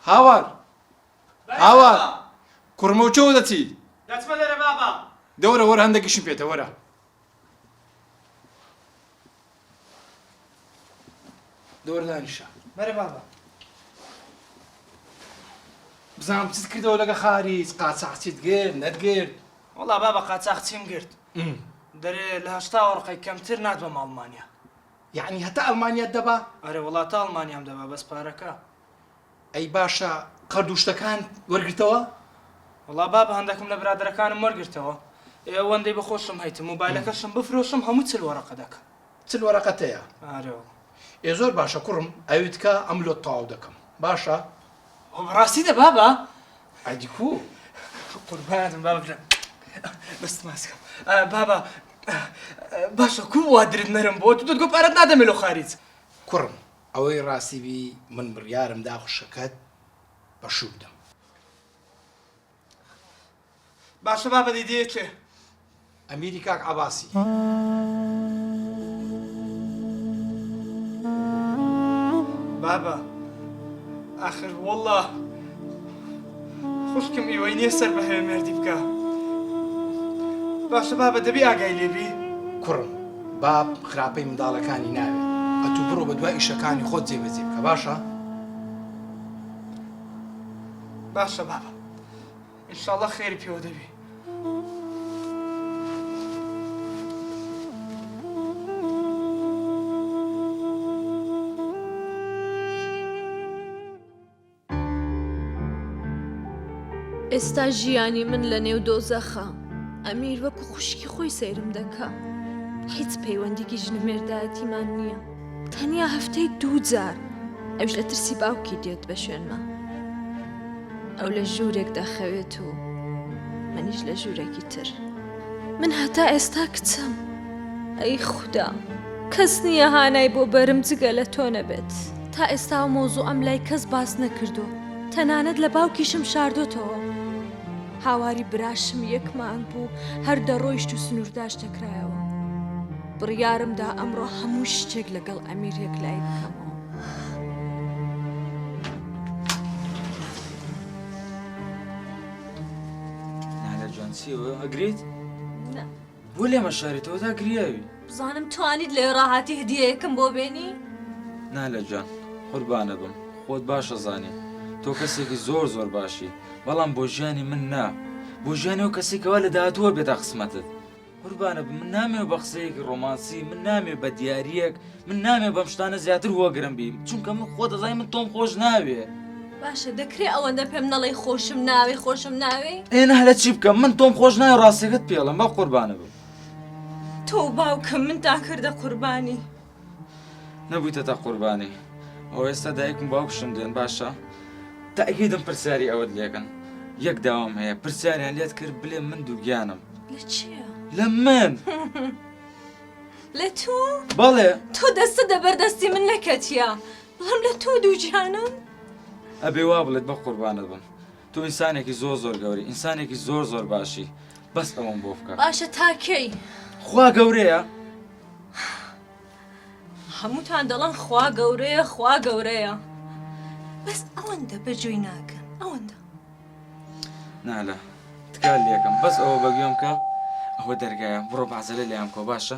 هاوار هاوار کوڕمەو چۆ دەچی دەچمە لەرە بابا دەورە وەرە هەندێکیشم پێتە وەرە دەورە دانیشە بەرە بابا بزانم چیت کردەوە لەگە خاریج قاچاقچیت گرت نەتگرت وڵا بابا قاچاقچیم گرت دەرێ لە هەشتا وەڕقی کەمتر نات بە ماڵمانیا یەعنی هەتا ئەلمانیات دەبا؟ ئەرێ وەڵا تا ئەڵمانیام دەبا بەس پارەکە. ئەی باشە قەرد و شتەکان وەرگرتەوە؟ وەڵا بابە هەندەکم لە برادەرەکانم وەرگرتەوە ئێ ئەوەندەی بە خۆشم هەیتم موبایلەکەشم بفرۆشم هەموو چل وەرەقە دەکەم. چل وەرەقەتەیە؟ ئارەوە. ئێ زۆر باشە کوڕم ئەویتکە ئەم لۆت تەواو دەکەم باشە. بابە ڕاستی دە بابە ئەدی کو قوربانم بابە برا بەست ماسکە بابە باشە کو وا درت نەرم بۆ تو دەت گۆ پارەت نادەمێ لۆ خارج کوڕم ئەوەی ڕاستی بی من بڕیارم دا خوشکەکەت بە شوو بدەم. باشە بابە دیدەیە کێ؟ ئەمیری کاک عەباسی. بابە ئاخر وەڵڵا خوشکم ئیوەی نیە سەر بە هەوێ مێردی بکا باشە بابە دەبی ئاگای لێ بی. کوڕم باب خراپەی منداڵەکانی ناوێ ئەتوو بڕۆ بە دوا ئیشەکانی خۆت جێ بەجێ بکە باشە. باشە بابە. انشاللە خێری پێوە دەبێ. ئێستا ژیانی من لە نێو دۆزەخە ئەمیر وەکو خوشکی خۆی سەیرم دەکا هیچ پەیوەندیکی ژنمێردایەتیمان نییە. تەنیا هەفتەی دوو جار ئەوش لە ترسی باوکی دێت بە شوێنمە ئەو لە ژوورێک دەخەوێت و منیش لە ژوورێکی تر من هەتا ئێستا کچم ئەی خوددا کەس نییە هانای بۆ بەرم جگە لە تۆ نەبێت تا ئێستا و مۆزوو ئەم لای کەس باس نەکردو تەنانەت لە باوکیشم شاردۆتەوە هاواری براشم یەکمان بوو هەر دەڕۆیشت و سنوورداش دەکرایەوە بڕیارمدا ئەمڕۆ هەموو شتێک لەگەڵ ئەمیر یەکلای بکەمەوە چیەوە ئەگریت؟ بۆ لێمە شارێتەوە تا گریاوی بزانم توانیت لێ ڕاهاتی هدیەکەم بۆ بێنی؟ نا لە جان قوربانە بم خۆت باشە زانێ تۆ کەسێکی زۆر زۆر باشی بەڵام بۆ ژیانی من نا بۆ ژیانی و کەسێکەوە لە داهاتووە بێدا قسمەتت قوربانت بم من نامەوێ بە قسەیەکی ڕۆمانسی من نامێ بە دیارریەک من نامێ بەم شتانە زیاتر هۆگرم بیم چونکە من خۆ دەزای من تۆم خۆش ناوێ باشە دەکرێ ئەوەندە پێم نەڵی خۆشم ناوێ خۆشم ناوێ ئێنە هەلە چی بکەم من تۆم خۆش نای ڕاستەکەت پێڵم بە قوربانە بم تۆ باوکم من تا کردە قوربانی. نەبویتەتە قوربانی ئەو ئێستا دایکم باوکشم دێن باشە تاگیدم پرسیاری ئەوەت لێکەن یەک داوام هەیە پرسیاریان لێت کرد بلێ من دووگیانم لە من لە تۆ بەڵێ تۆ دەستە دەبەردەستی من نەکەتیە بەڵام لە تۆ دووجیانم ئەبێ وا بڵێت بە قوربانە بم تۆ ئینسانێکی زۆر زۆر گەوری ئینسانێکی زۆر زۆر باشی بەس ئەوەم بۆ بکە باشە تاکەی خوا گەورەیە هەمووتان دەڵم خوا گەورەیە خوا گەورەیە بەس ئەوەندە بە جۆی ناکەن ئەوەندە نالە تکال لەکەم بەس ئەوە بەگوێم کە ئەوە دەرگایە بڕۆ بازەلە لەیان کۆ باشە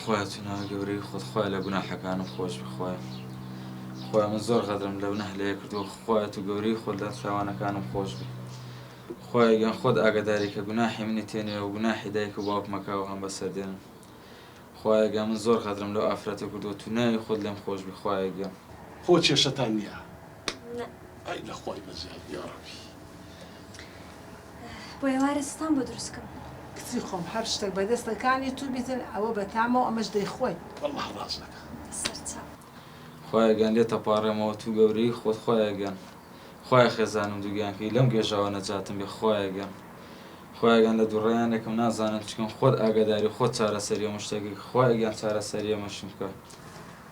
خوایە تو ناوی گەورەی خۆت خوایە لە گوناحەکانم خۆش بی خوایە خوایە من زۆر غەدرم لەو نەهلەیە کردووە خوایە تو گەورەی خۆت لە تاوانەکانم خۆش بی خوایە گیان خۆت ئاگاداری کە گوناحی منی تێنێ و گوناحی دایک و باوکم مەکە و هەم بەسەر دێنم خوایە گیان من زۆر غەدرم لەو ئافرەتە کردووە تو ناوی خۆت لێم خۆش بی خوایە گیان. خۆ کێشەتان نیە؟ ئای لە خوای بەزیاد یاڕەبی. بۆ ئێوارە ستان بۆ دروست کەم. کچی خۆم هەر شتەک بە دەستە کانی تو بیتن ئەوە بە تامە و ئەمەش دەی خۆین. واللە ڕاست دەکا. سەر چاو. خوایە گیان لێت ئەپاڕێمەوە توو گەورەیی خۆت خوایە گیان خوایە خێزانم دووگیان کەی لەم گێژاوە نەجاتم بێ خوایە گیان خوایە گیان لە دوڕیانێکم نازانم چکەم خۆت ئاگەداری خۆت چارەسەری هەموو شتەکەی خوایە گیان چارەسەری ئەمەشم بکە